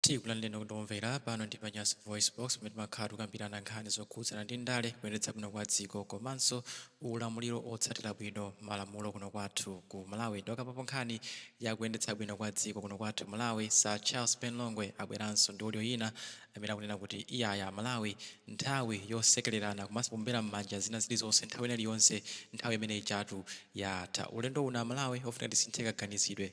tikulandireni kuti omvera pano ndi panyasa voice box pamene timakhala tikukambirana nkhani zokhudzana ndi ndale kuyendetsa bwino kwa dziko komanso ulamuliro otsatira bwino malamulo kuno kwathu ku malawi ndipo pokambapo nkhani ya kuyendetsa bwino kwa dziko kuno kwathu malawi sir charles ben longwe abweranso ndi audio ina amene akunena kuti iyayi amalawi nthawi yosekererana komanso kuombera m'manja zina zilizonse nthawi ina iliyonse nthawi imene ija tu yatha ulendo uno amalawi ofunika tisinthe kaganizidwe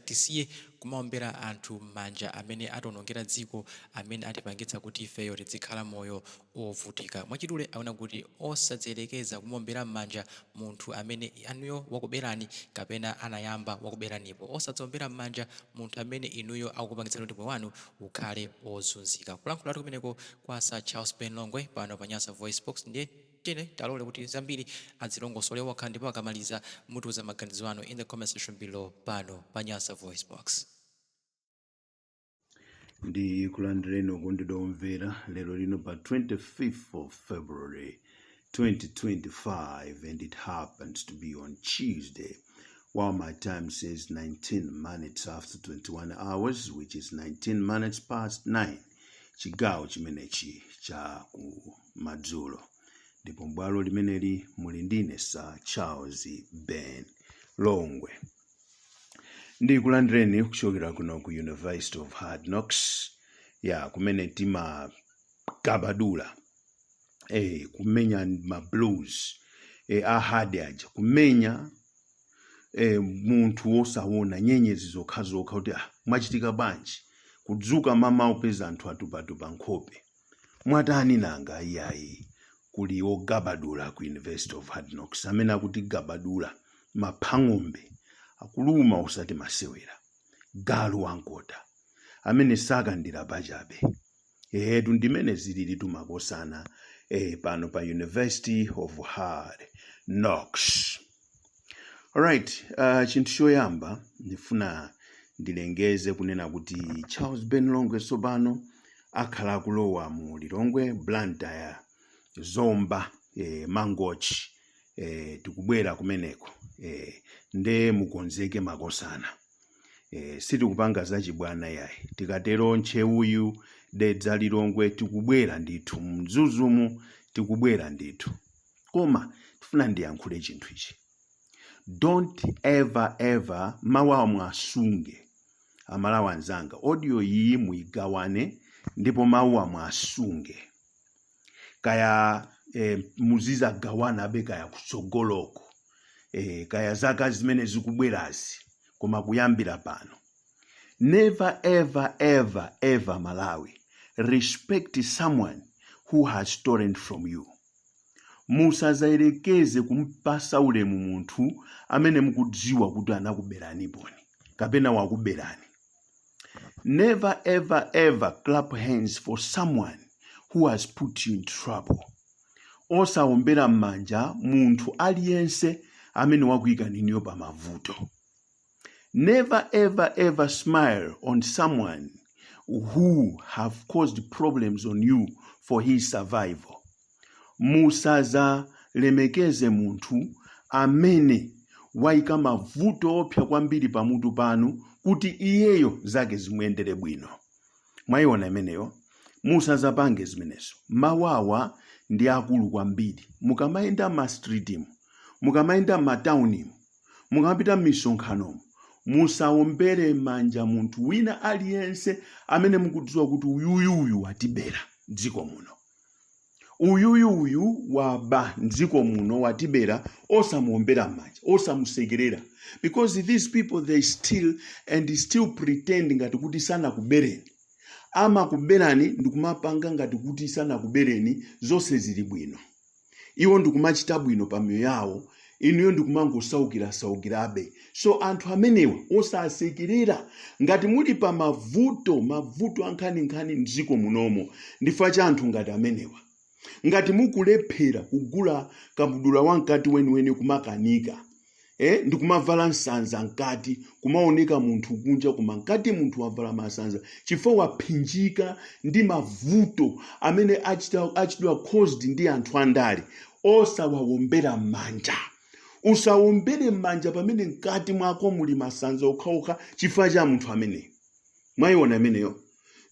Tisiye kumaombera anthu m'manja amene atiwonongera dziko, amene atipangitsa kuti ifeyo tidzikhala moyo wovutika. Mwachidule akunena kuti, Osadziyerekeza kumaombera m'manja munthu amene inuyo wakuberani kapena anayamba wakuberanipo. Osadzaombera m'manja munthu amene inuyo akupangitsani kuti moyo wanu ukhale wozunzika. Kulankhulatu kumeneko kwa Sir Charles Ben Longwe pano pa Nyasa VoiceBox, ndiye. tiyeni tiwalole kuti zambiri azilongosole okha ndipo akamaliza mutiuza maganizo anu in the comment section below pano pa Nyasa Voice Box. ndikulandireni okondedwa omvera lero lino pa 25th of february 2025 and it happens to be on tuesday while my time says 19 minutes after 21 hours which is 19 minutes past 9 chigawo chimenechi cha ku madzulo ndipo m'bwalo limeneli muli ndine sir charles ben longwe ndikulandireni kuchokera kuno ku university of hard knocks ya kumene timagabadula eh, kumenya ma blues eh, a hard aja kumenya eh, munthu nkumaona nyenyezi zokhazokha kuti ah, mwachitika bwanji kudzuka mmawa upeza anthu atupatupa nkhope Mwatani nanga? Iyayi, kuli ogabadula ku University of Hard Knocks amene akutigabadula, maphang'ombe akuluma osati masewera, galu wamkota amene sakandira pachabe. Eetu ndimene zililitu makosana ee pano pa University of Hard Knocks. Alright, uh, chinthu choyamba ndifuna ndilengeze kunena kuti Charles Ben Longwe tsopano akhala akulowa mu Lilongwe, Blantyre, Zomba, eh, Mangochi eh, tikubwera kumeneko eh, nde mukonzeke makosana eh, sitikupanga zachibwana yayi tikatero ntcheu uyu dedza Lilongwe tikubwera ndithu mzuzumu tikubwera ndithu koma ndifuna ndiyankhule chinthu ichi don't ever ever mawu awa mwasunge amalawi anzanga audio iyi muyigawane ndipo mawu awa mwasunge kaya eh, muzizagawana abe kaya kutsogoloko eh, kaya zaka zimene zikubwerazi koma kuyambira pano never ever ever ever malawi respect someone who has stolen from you Musadzayerekeze kum'patsa ulemu munthu amene mukudziwa kuti anakuberaniponi kapena wakuberani. Never ever ever clap hands for someone who has put you in trouble. Osaombera m'manja munthu aliyense amene wakuikani inuyo pamavuto. Never ever ever smile on someone who have caused problems on you for his survival. Musazalemekeze munthu amene waika mavuto oopsa kwambiri pamutu panu kuti iyeyo zake zimuyendere bwino. Mwaiona imeneyo? Musazapange zimenezo. Mawawa ndi akulu kwambiri. Mukamayenda m'mastritimu, mukamayenda m'mataunimu, mukamapita m'misonkhanomo musaombere m'manja munthu wina aliyense amene mukudziwa kuti uyuyu uyu watibera mdziko muno uyuyu uyu waba mdziko muno watibera osamuombera m'manja osamusekerera because these people they still and still pretend ngati kuti sanakubereni amakuberani ndikumapanga ngati kuti sanakubereni zonse zili bwino iwo ndikumachita bwino pa miyoyo yawo inuyo ndikumangosaukirasaukirabe so anthu amenewa osasekerera ngati muli pa mavuto mavuto ankhaninkhani mdziko munomo ndifukwa cha anthu ngati amenewa ngati mukulephera kugula kabudula wamkati weniweni kumakanika eh, ndikumavala nsanza mkati kumaoneka munthu kunja koma mkati munthu wavala masanza chifukwa waphinjika ndi mavuto amene ach- achitidwa caused ndi anthu andale osawawombera m'manja usawombere m'manja pamene mkati mwako muli masanza okhaokha chifukwa cha munthu ameneyo mwaiona imeneyo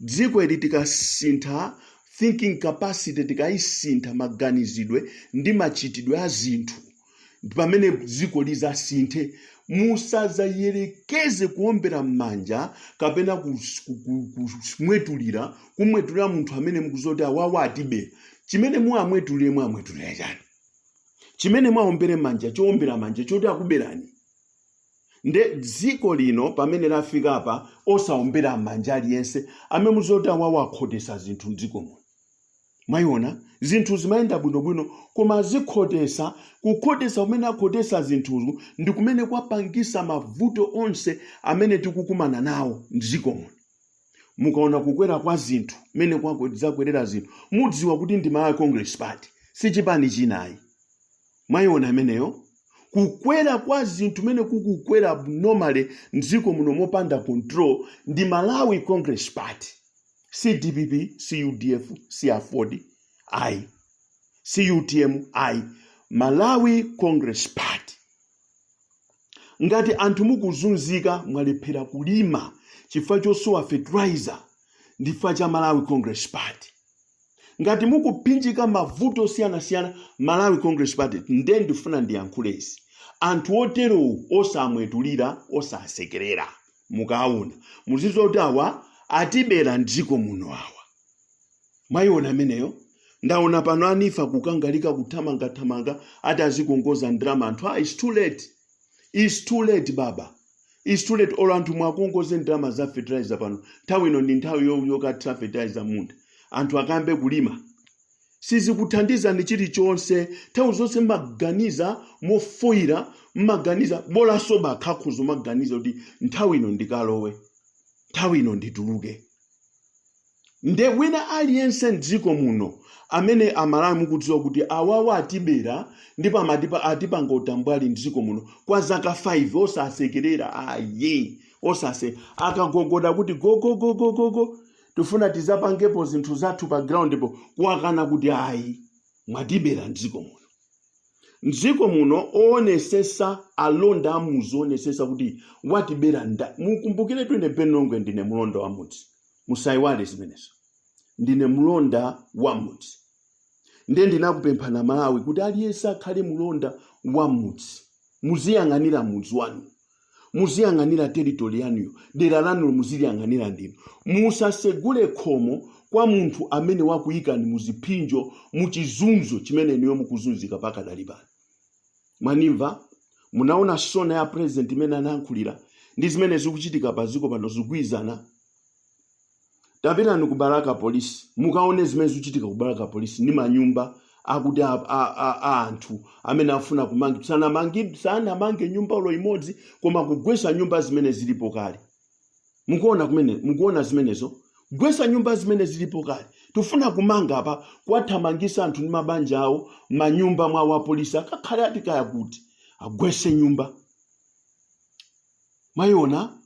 dziko ili tikasintha thinking capacity tikayisintha maganizidwe ndi machitidwe a zinthu ndi pamene dziko lizasinthe musazayerekeze kuombera m'manja kapena kus- ku- ku- kumwetulira kumwetulira munthu amene mukudziwa kuti awawa atibera chimene muwamwetulire muwamwetulira chani chimene mwaombere manja choombera manja choti akuberani nde dziko lino pamene lafikapa osaombera mmanja aliyense amene muzoti awawa akhotesa zinthu mdziko muno mwayiona zinthu zimayenda bwinobwino koma azikhotesa, kukhotesa kumene akhotesa zinthuzo ndi kumene kwapangisa mavuto onse amene tikukumana nawo mdziko muno mukaona kukwera kwa zinthu mmene kwako- zakwerera zinthu mudziwa kuti ndi malawi congress party si chipani china ayi mwayiona imeneyo kukwera kwa zinthu mene kukukwera abnormally mdziko muno mopanda control ndi malawi congress party si dpp si udf si aford ayi si utm ayi malawi congress party ngati anthu mukuzunzika mwalephera kulima chifukwa chosowa fertilizer ndi chifukwa cha malawi congress party ngati mukupinjika mavuto osiyanasiyana malawi congress party nde ndifuna ndiyankhulezi anthu oterowo osamwetulira osasekerera mukaona muzizoti awa atibera mdziko muno awa mwayiona ameneyo ndaona pano ayamba kukangalika kuthamangathamanga ati azikongoza ndalama anthu ah, its too late its too late baba It's too late olo anthu muwakongoze ndalama za fertilizer pano nthawi ino ndi nthawi yo- yokathira fertilizer mmunda anthu akayambe kulima sizikuthandizani chilichonse nthawi zonse mmaganiza mofoyira mmaganiza bolanso bakhakhuzo mmaganiza kuti nthawi ino ndikalowe nthawi ino ndituluke nde wina aliyense mdziko muno amene amalawi mukudziwa kuti awawa atibera ndipo amatipa atipanga utambwali mdziko muno kwa zaka 5 osasekerera ayi osase akagogoda kuti gogogogogogo tufuna tizapangepo zinthu zathu pa ground po kuwakana kuti ayi mwatibera mdziko muno mdziko muno owonesesa alonda amuzi owonesesa kuti watibera nda mukumbukire kuti ine benongwe ndine mulonda wa mudzi Musaiwale zimenezo. Ndine mlonda wa mudzi. Ndiye ndinakupemphani Amalawi kuti aliyense akhale mlonda wa mudzi. Muziyang'anira mudzi wanu, muziyang'anira territory yanuyo, dera lanulo muziliyang'anira ndinu. Musasegule khomo kwa munthu amene wakuyikani muzipsinjo, muchizunzo chimene inuyo mukuzunzika pakadali pano. Mwanimva? Munaona sona ya president imene anayankhulira ndi zimene zikuchitika pa dziko pano zikugwirizana? tapitani ku balaka police mukaone zimene zikuchitika ku balaka police ndi manyumba akuti a, a, a, a anthu amene afuna kumangi sanamange nyumba olo imodzi koma kugwesa nyumba zimene zilipo kale mukuona kumene mukuona zimenezo gwesa nyumba zimene zilipo kale tufuna kumanga apa kuwathamangisa anthu ndi mabanja awo manyumba mwa wapolisi akakhale kuti kaya kuti agwese nyumba Mwayiona?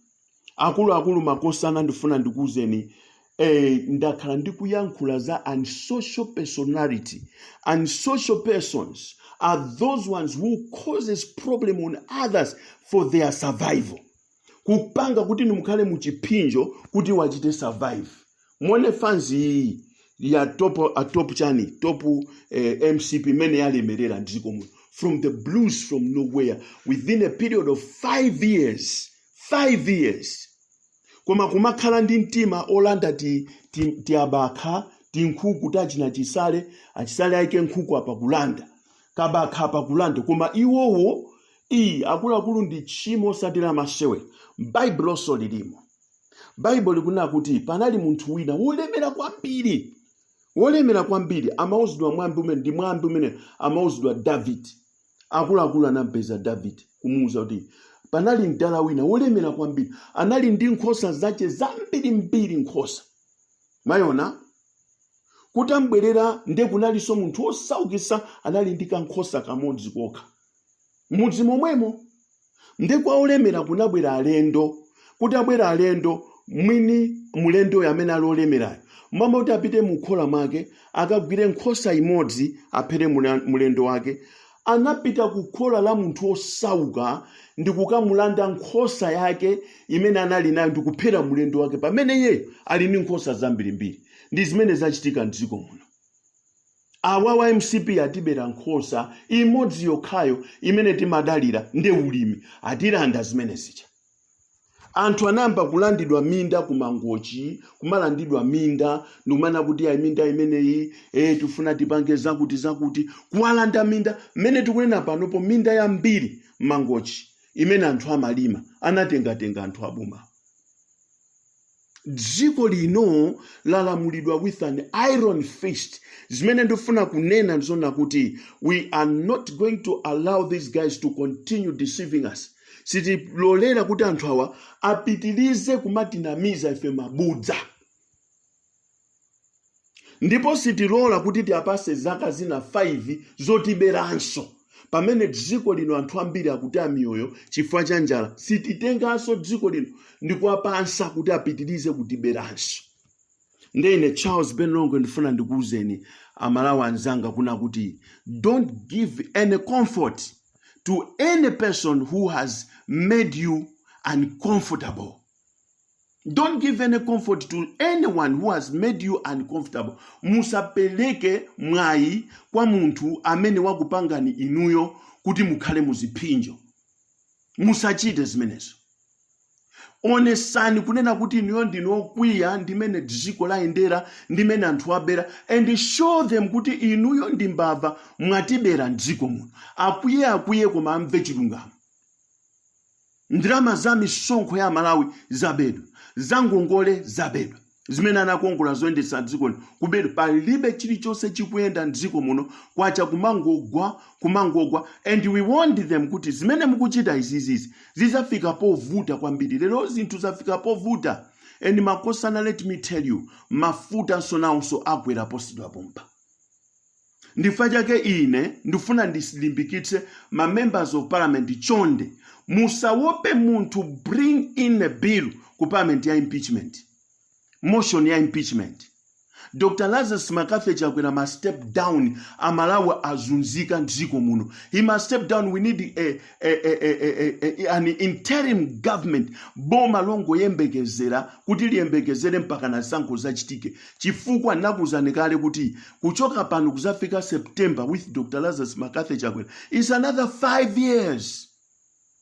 Akuluakulu makosana ndifuna ndikuuzeni eh, ndakhala ndikuyankhula za unsocial personality. Unsocial persons are those ones who causes problem on others for their survival. Kupanga kuti inu mukhale muchipsinjo kuti iwo achite survive. muone fanzi ya top a top chani top eh, mcp imene yalemerera mdziko muno from the blues from nowhere within a period of five years five years koma kumakhala ndi mtima olanda ti, ti, ti abakha ti nkhuku tachina chisale achisale aike nkhuku apa kulanda kabakha apa kulanda koma iwowo iyi akuluakulu ndi tchimo osati la masewera m'baibulonso lilimo baibulo likunena kuti panali munthu wina wolemera kwambiri wolemera kwambiri amauzidwa mwambi umene ndi mwambi umene amauzidwa davide akuluakulu anampeza davide kumuuza kuti panali mdala wina wolemera kwambiri anali ndi nkhosa zache zambirimbiri nkhosa mwaiona kutabwera nde kunalinso munthu wosaukisa anali ndi kankhosa kamodzi kokha M'mudzi momwemo nde kwa olemera kunabwera alendo. Kutabwera alendo, mwini mlendoyo amene ali olemerayo, m'malo moti apite mu khola mwake akagwire nkhosa imodzi aphere mla- mlendo wake, anapita ku khola la munthu wosauka ndi kukamulanda nkhosa yake imene anali nayo ndi kuphera mlendo wake pamene iyeyo ali ndi nkhosa zambirimbiri. Ndi zimene zachitika m'dziko muno. Awawa mcp atibera nkhosa imodzi yokhayo imene timadalira nde ulimi atilanda zimene zija anthu anayamba kulandidwa minda ku mangochi kumalandidwa minda ndikumanena kuti ayi minda imeneyi eh, tifuna tipange zakuti zakuti kuwalanda minda mmene tikunena panopo minda yambiri mangochi imene anthu amalima anatengatenga anthu aboma dziko lino lalamulidwa with an iron fist zimene ndifuna kunena ndi zonena kuti we are not going to allow these guys to continue deceiving us sitilolera kuti anthu awa apitilize kumatinamiza ife mabodza ndipo sitilola kuti tiapase zaka zina 5 zotiberanso pamene dziko lino anthu ambiri akutaya miyoyo chifukwa cha njala sititenganso dziko lino ndikuwapatsa kuti apitirize kutiberanso nde ine charles ben longwe ndifuna ndikuwuzeni amalawi anzanga kuna kuti don't give any comfort to any person who has made you uncomfortable don't give any comfort to anyone who has made you uncomfortable musapeleke mwayi kwa munthu amene wakupangani inuyo kuti mukhale muziphinjo musachite zimenezo onesani kunena kuti inuyo ndinu okwiya ndimene dziko layendera ndimene anthu abera and show them kuti inuyo ndi mbava mwatibera mdziko muno akwiye akwiye koma amve chilungamo Ndalama za misonkho ya Amalawi zabedwa, za ngongole zabedwa, zimene anakongola zoyendetsa dziko lino kubedwa. Palibe chilichonse chikuyenda m'dziko muno, kwacha kumangogwa, kumangogwa and we warned them kuti zimene mukuchita izizizi zidzafika povuta kwambiri. Lero zinthu zafika povuta and makosana let me tell you mafutanso nawonso akwera posachedwa pompa. ndifa chake ine ndifuna ndisilimbikitse ma members of parliament chonde musawope munthu bring in a bill ku parliament ya impeachment motion ya impeachment dr lazarus mccarthy chakwera must step down amalawi azunzika mdziko muno he must step down we need a, a, a, a, a, a, a, an interim government boma longoyembekezera kuti liyembekezere mpakana zisankho zachitike chifukwa nakuuzani kale kuti kuchoka pano kuzafika september with dr lazarus mccarthy chakwera is another five years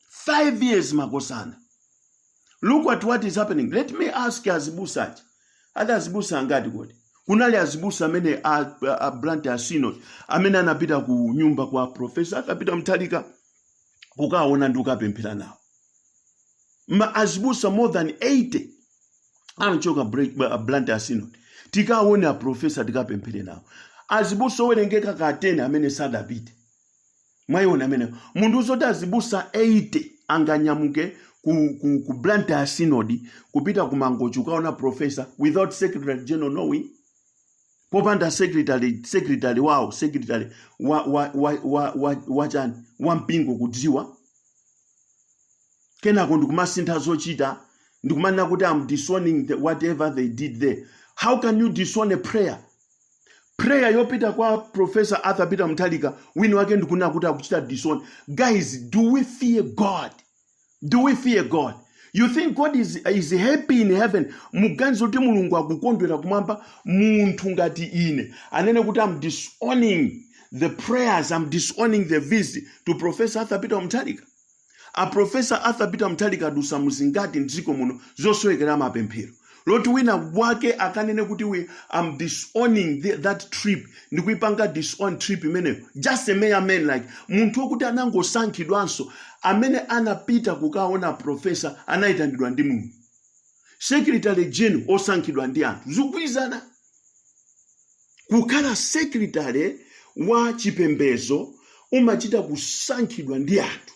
five years makosana look at what is happening let me ask azibusa aja ali azibusa angati kodi kunali azibusa amene a, a, a blantyre synod amene anapita ku nyumba kwa profesa arthur peter mutharika kukaona ndi kukapemphera nawo ma azibusa more than 80 anachoka Bla- Bla- blantyre synod tikaone aprofesa tikapemphere nawo azibusa owerengeka ka 10 amene sadapite mwayiona amene mundiuza zoti azibusa 80 anganyamuke ku, ku, ku blantyre synod kupita ku mangochi ukaona profesa without secretary general knowing popanda secretary secretary wawo secretary wa wa wa wa wa, wa chani wa mpingo kudziwa kenako ndikumasintha zochita ndikumanena kuti I'm disowning the, whatever they did there how can you disown a prayer prayer yopita kwa professor arthur peter mutharika wina wake ndikunena kuti akuchita disown guys do we fear god do we fear god you think god is, is happy in heaven muganiza kuti mulungu akukondwera kumwamba munthu ngati ine anene kuti I'm disowning the prayers i'm disowning the visit to professor arthur peter mutharika a professor arthur peter mutharika adusa muzingati mdziko muno zosowekera mapemphero zoti wina wake akanene kuti we I'm disowning the, that trip ndikuipanga disown trip imeneyo just a mere man like munthu wokuti anangosankhidwanso amene anapita kukaona a professor anayitanidwa ndi mulungu secretary general osankhidwa ndi anthu zikugwirizana Kukhala sekilitale wa chipembedzo umachita kusankhidwa ndi anthu,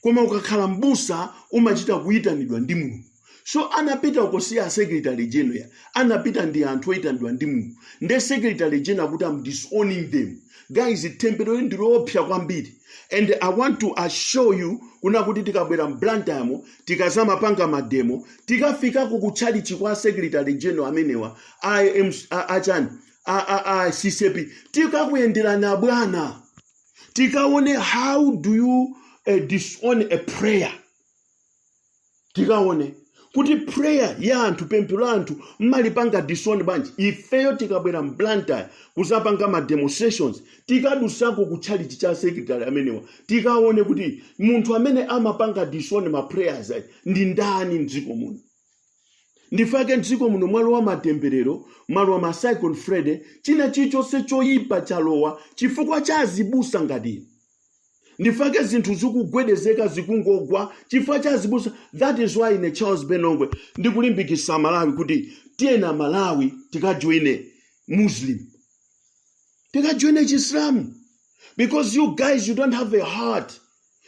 koma ukakhala m'busa umachita kuitanidwa ndi Mulungu. So anapita uko si a secretary general, anapita ndi anthu oitanidwa ndi Mulungu. Nde secretary general kuti I'm disowning them. Guys, themberoli ndi loopsya kwambiri and I want to assure you kunena kuti tikabwera m'Blantyre tikazamapanga mademo tikafikako ku tchalichi kwa secretary general amenewa a MC a- achani a a a CCAP tikakuyenderani abwana tikaone how do you uh, disown a prayer tikaone kuti prayer ya anthu pemphero la anthu mmalipanga disown bwanji ifeyo tikabwera mblantyre kuzapanga ma demonstrations tikadusako ku chalichi cha secretary amenewa tikaone kuti munthu amene amapanga disown ma prayers ayi ndi ndani mdziko muno ndifake mdziko muno mwalowa matemberero mwalowa ma cyclone freddy china chilichonse choyipa chalowa chifukwa cha azibusa ngati inu ndifake zinthu zikugwedezeka zikungogwa chifukwa cha azibusa that is why ine charles ben longwe ndikulimbikisa amalawi kuti tiyeni amalawi tikajoine muslim tikajoine chisilamu because you guys you don't have a heart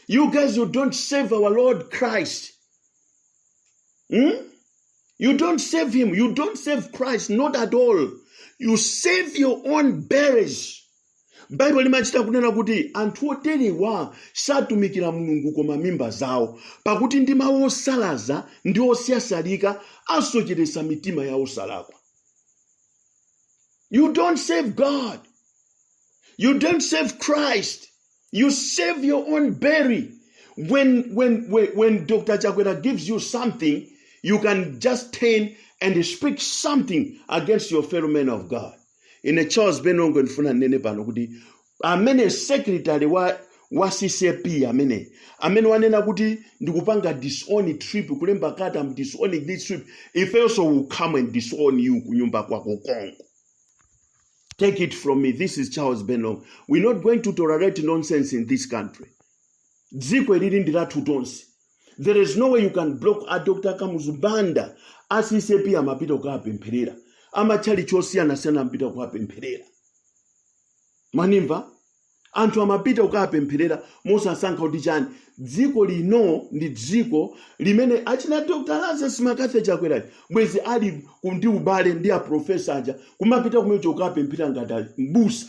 you guys you don't serve our lord christ Hmm? You don't serve him. You don't serve Christ. Not at all. You serve your own bellies. baibulo limachita kunena kuti anthu oterewa satumikira mulungu koma mimba zawo pakuti ndi mawu osalaza ndi osyasyalika asocheretsa mitima ya osalakwa you don't serve god you don't serve christ You serve your own belly. When when when, when Dr. Chakwera gives you something, you can just turn and speak something against your fellow men of God. Ine Charles Ben Longwe ndifuna ndinene pano kuti amene secretary wa wa CCAP amene amene wanena kuti ndikupanga disown trip kulemba kalata am disowning this trip ife also will come and disown you kunyumba kwako konko Take it from me. This is Charles Ben Longwe. We're not going to tolerate nonsense in this country. Dziko ili li ndi lathu tonse. There is no way you can block a Dr. Kamuzu Banda a CCAP amapita kukapempherera. A matchalitchi osiyanasiyana amapita kukapempherera. Mwandimva, anthu amapita kukapempherera mosasankha kuti chani dziko lino ndi dziko limene achina dr lazarus mccarthy chakwerachi bwezi ali ku- ndi ubale ndi aprofesa aja kumapita kumeneko kukapemphera ngati a- mbusa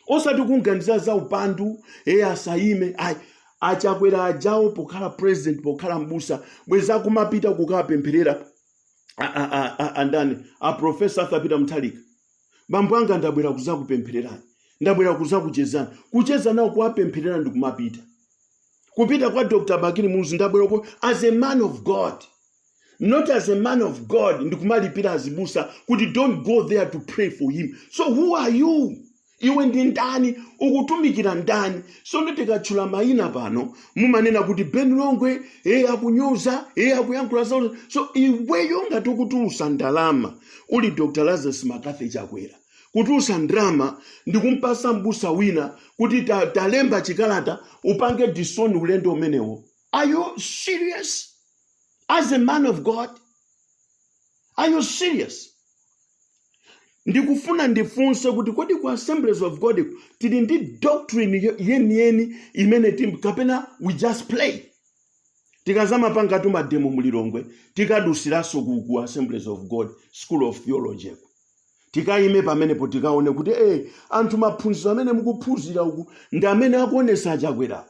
osati kunganiza za upandu eye asayime ayi achakwera ajawo pokhala president pokhala mbusa bwezi akumapita kukapempherera a- a- a- a- andani aprofesa arthur peter mutharika bambo anga ndabwera kuzakupemphererani ndabwera kuzakuchezani kucheza nawo kuwapempherera ndi kumapita kupita kwa dr bakili muluzi ndabwera uko as a man of god not as a man of god ndi kumalipira azibusa kuti don't go there to pray for him so who are you iwe ndi ndani ukutumikira ndani sono tikatchula mayina pano mumanena kuti ben longwe eye akunyoza eye akuyankhula zawo so iweyo ngati ukutulutsa ndalama uli Dr. Lazarus McCarthy Chakwera kutulutsa ndalama ndi kumpasa mbusa wina kuti ta, talemba chikalata upange disown ulendo umenewo. Are you serious as a man of God? Are you serious? ndikufuna ndifunse kuti kodi ku assemblies of god ku tili ndi doctrine yo- yeniyeni imene tim kapena we just play Tikazamapangatu mademo mu Lilongwe tikadutsiranso ku ku Assemblies of God school of theology ku. Tikaime pamenepo tikaone kuti ee anthu maphunziro amene mukuphunzira uku ndi amene akuonesa a Chakwerawa.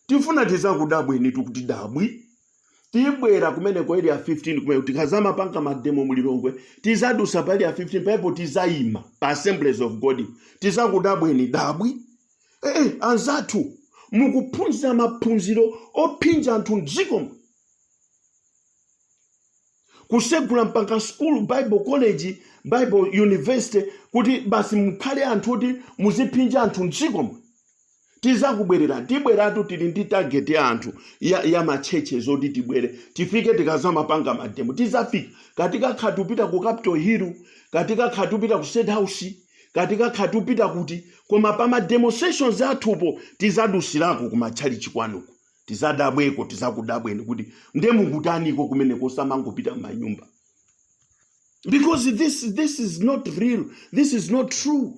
Tifuna tizakudabwenitu kuti dabwi. Tibwera kumeneko ku area 15 kumeneko tikazamapanga mademo mu Lilongwe tizadutsa pa area 15 pamenepo tizaima pa Assemblies of God tizakudabweni dabwi. Eh, eh, anzathu mukuphunzira maphunziro ophinja anthu mdzikomu kutsegula mpaka school bible college bible university kuti basi mukhale anthu oti muziphinja anthu mdzikomu tizakubwerera tibweratu tili ndi target ya anthu ya, ya matchetchezi oti tibwere tifike tikazamapanga mademo tizafika kaya tikakhala tikupita ku capital hill kaya tikakhala tikupita ku state house kati kaya tupita kuti koma pa ma demonstrations athupo tizadusilako ku matchalichi kwanuko tizadabweko tizakudabweni kuti nde mukutaniko kumene kosamangopita mmanyumba because this this is not real this is not true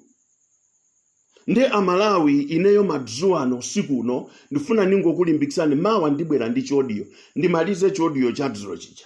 nde amalawi ineyo madzulo ano usiku uno ndifuna ningokulimbikisani mawa ndibwera ndi chodiyo ndimalize chodiyo cha dzulo chija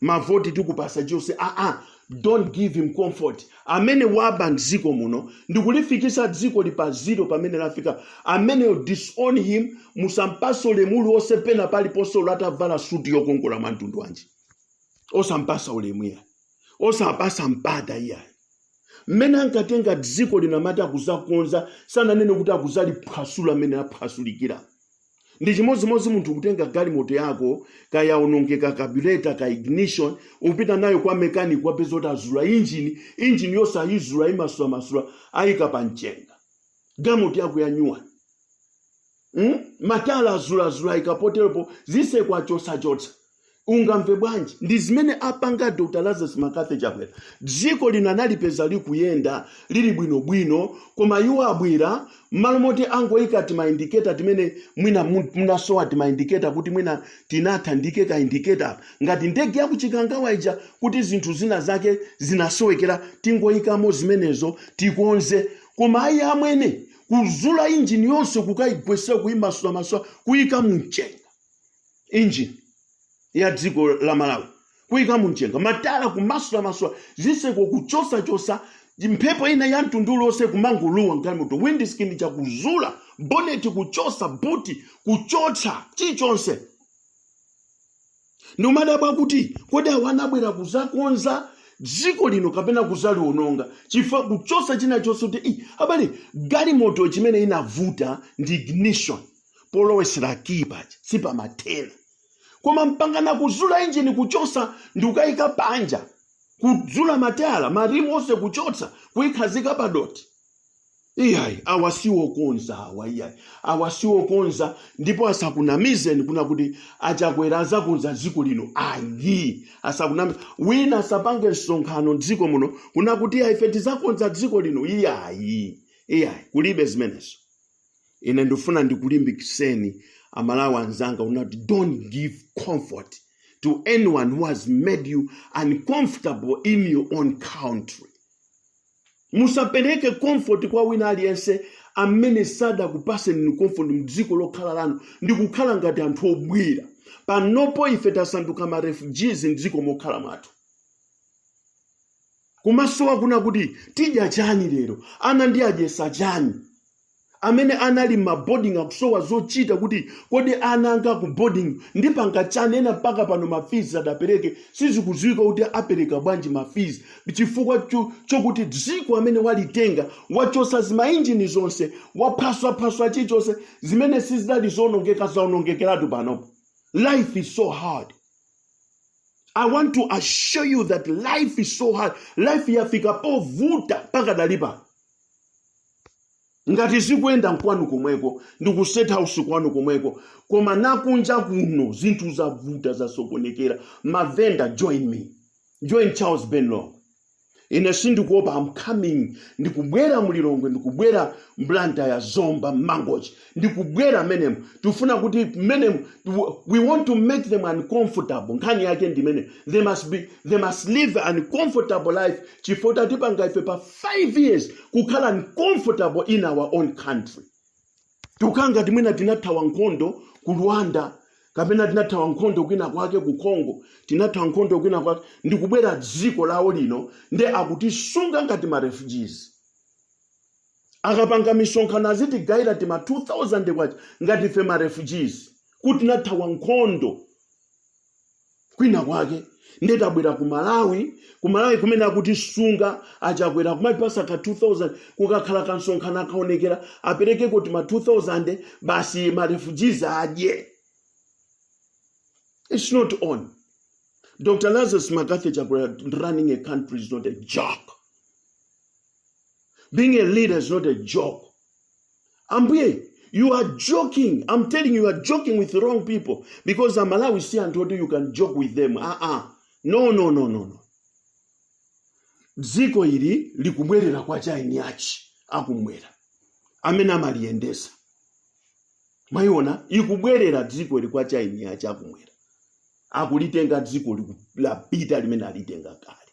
mavoti tikupasa jose aa don't give him comfort amene waba mdziko muno ndikulifikisa dziko lipa zero pamene lafika ameneyo disown him musampase ulemu uliwonse pena paliponse ulo atavala suti yokongola mwa mtundu wanji osampasa ulemu iya osapasa mpata iyayi mmene ankatenga dziko lino amati akuzakonza sananene kuti akuzaliphwasula mmene aphwasulira ndi chimodzimodzi munthu kutenga galimoto yako kaya yaonongeka kabureta ka ignition upita nayo kwa mekaniki wapeza kuti azula injini injini yonse ayizula ayimasulamasula ayika pa mchenga galimoto yako yanyuwani mm? matala azulazula ayika poteropo ziseko achosachosa ungamve bwanji ndi zimene apanga dr lazarus mccarthy chakwera dziko lino analipeza likuyenda lili bwinobwino koma iwo abwera mmalo moti angoyika timaindiketa timene mwina mu- munasowa timaindiketa kuti mwina tinatha ndiike kaindiketa ngati ndege yakuchikangawa ija kuti zinthu zina zake zinasowekera tingoyikamo zimenezo tikonze koma ayi amwene kuzula injini yonse kukaigwesa kuimasulamasula kuyika mumchenga engine ya dziko la malawi kuyika mumchenga matala kumasulamasula zitseko kuchosachosa mphepo ina ya mtundu uliwonse kumangolowa mgalimoto windscreen chakuzula boneti kuchosa buti kuchotsa chilichonse ndimadabwa kuti kodi awa anabwera kuzakonza dziko lino kapena kuzaliwononga chifukwa kuchosa china chonse kuti "Ih, abale galimoto chimene inavuta ndi ignition polowesera kiyi paja sipamathena koma mpangana kuzula injini kuchosa ndi kukayika panja kudzula matayala marimu onse kuchotsa kuyikhazika padoti iyayi awa siwokonza awa iyayi awa siwokonza ndipo asakunamizeni kunena kuti achakwera azakonza dziko lino ayi asakunamize wina asapange msonkhano mdziko muno kunena kuti ife tizakonza dziko lino iyayi iyayi kulibe zimenezo ine ndifuna ndikulimbikiseni amalawi anzanga kunena kuti don't give comfort to anyone who has made you uncomfortable in your own country musapereke comfort kwa wina aliyense amene sadakupaseni inu comfort mdziko lokhala lanu ndi kukhala ngati anthu obwera panopo ife tasanduka ma refugees mdziko mokhala mwathu kumasowa kuna kuti tidya chani lero ana ndi adyesa chani amene anali m'maboding akusowa zochita kuti kodi ana anga ku boarding ndipanga chani ena mpaka pano mafizi sadapereke sizikudziwika kuti apereka bwanji mafizi chifukwa chokuti dziko amene walitenga wachosa zimainjini zonse waphwasaphwasa chichonse zimene sizidali zoonongeka zaonongekeratu panopo life is so hard I want to assure you that life is so hard. Life yafika povuta mpaka dalipa. Ngati zikuenda nkwanu komweko, ndi ku state house kwanu komweko, koma nakunja kuno zinthu zavuta zasokonekera. Mavenda join me. Join Charles Ben Longwe. ine sindikuopa I'm coming ndikubwera mulilongwe ndikubwera m'blantyre zomba mangochi ndikubwera m'menemo tifuna kuti m'menemo we want to make them uncomfortable nkhani yake ndi imeneyo they must be they must live an uncomfortable life chifukwa atipanga ife pa 5 years kukhala uncomfortable in our own country tikukhala ngati mwina tinathawa nkhondo ku rwanda kapena tinathawa nkhondo kwina kwake ku congo tinathawa nkhondo kwina kwake ndikubwera dziko lawo lino nde akutisunga ngati ma refugees akapanga misonkhano azitigaira tima 2000 kwacha ngati ife ma refugees kuti tinathawa nkhondo kwina kwake ndiye tabwera ku malawi ku malawi kumene akutisunga achakwera kumatipasa ka 2000 kukakhala kamsonkhano akaonekera aperekeko tima 2000 basi marefugees adye it's not on dr lazarus mccarthy chakwera running a country is not a joke being a leader is not a joke ambuye you are joking i'm telling you you are joking with wrong people because amalawi si anthu oti you can joke with them ah ah no no no no no dziko ili likubwerera kwa achina achi akumwera amene amaliyendesa mwaliona likubwerera dziko ili kwa achina achi akumwera akulitenga dziko liku- lapita limene alitenga kale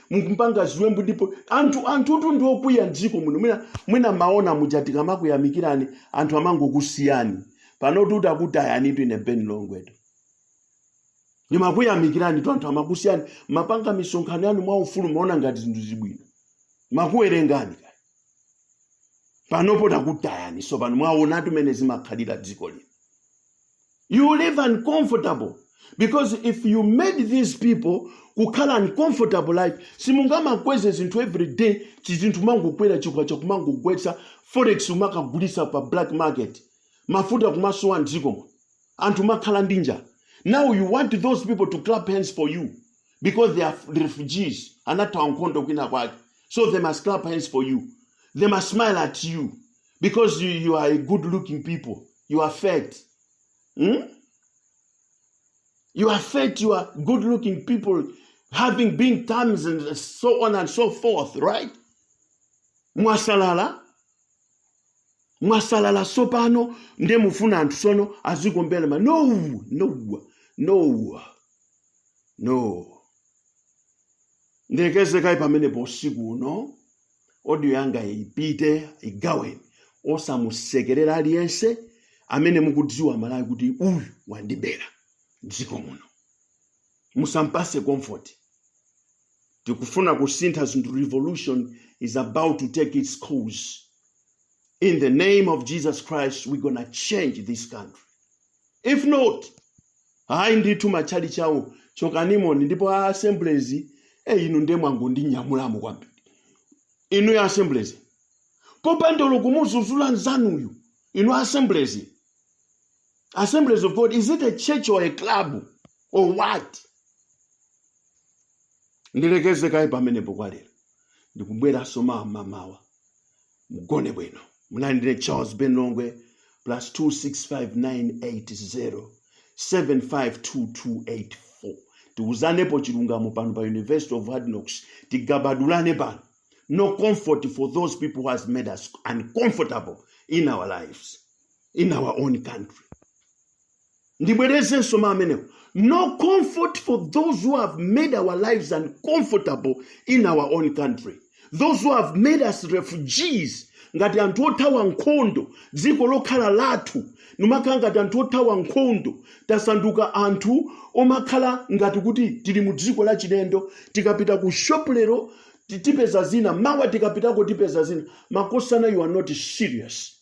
mukupanga ziwembu ndipo anthu anthutu ndi okwiya mdziko muno mwina mumaona muja tikamakuyamikirani anthu amangokusiyani panotu takutayanitu ine ben longwetu ndimakuyamikiranitu anthu amakusiyani mumapanga misonkhano yanu mwa ufulu mumaona ngati zinthu zili bwino timakuwerengani kaya panopo takutayani so pano mwaonatu mmene zimakhalira dziko lino you will live uncomfortable because if you made these people kukhala uncomfortable life simungamakweze zinthu every day chizinthu mangokwera chikwacha kumangogwetsa forex kumakagulitsa pa black market mafuta kumasowa mdzikomo anthu kumakhala ndi njala now you want those people to clap hands for you because they are refugees anathawa nkhondo kwina kwake so they must clap hands for you they must smile at you because you, you are a good looking people you are fat hmm? you are fat you are good looking people having been times and so on and so forth right mwasalala mwasalala sopano nde mufuna anthu sono azikombelema no no no no ndekeze kayi pamenepo usiku uno audio yanga ipite igaweni osamusekerera aliyense amene mukudziwa malawi kuti uyu wandibera dziko muno musampase comfort tikufuna kusintha zinthu revolution is about to take its course in the name of jesus christ we're gonna change this country if not hayi ndithu matchalitchi awo chokanimoni ndipo a assemblies e inu ndiye mwangondinyamulamo kwambiri inu ya assemblies popanda olo kumudzudzula nzanuyu inu a assemblies assemblies of god is it a church or a club or what ndilekeze kaye pamenepo kwa lero ndikubweranso mamawa mugone bwino munali ndine charles ben longwe plus 26598075224 tiuzanepo chilungamo pano pa university of hard knocks tigabadulane pano no comfort for those people who has made us uncomfortable in our lives in our own country ndibwerezenso mawu amenewo no comfort for those who have made our lives uncomfortable in our own country those who have made us refugees ngati anthu othawa nkhondo dziko lokhala lathu nkumakhala ngati anthu othawa nkhondo tasanduka anthu omakhala ngati kuti tili mu dziko la chilendo tikapita ku shop lero tipeza zina mawa tikapitako tipeza zina makosana you are not serious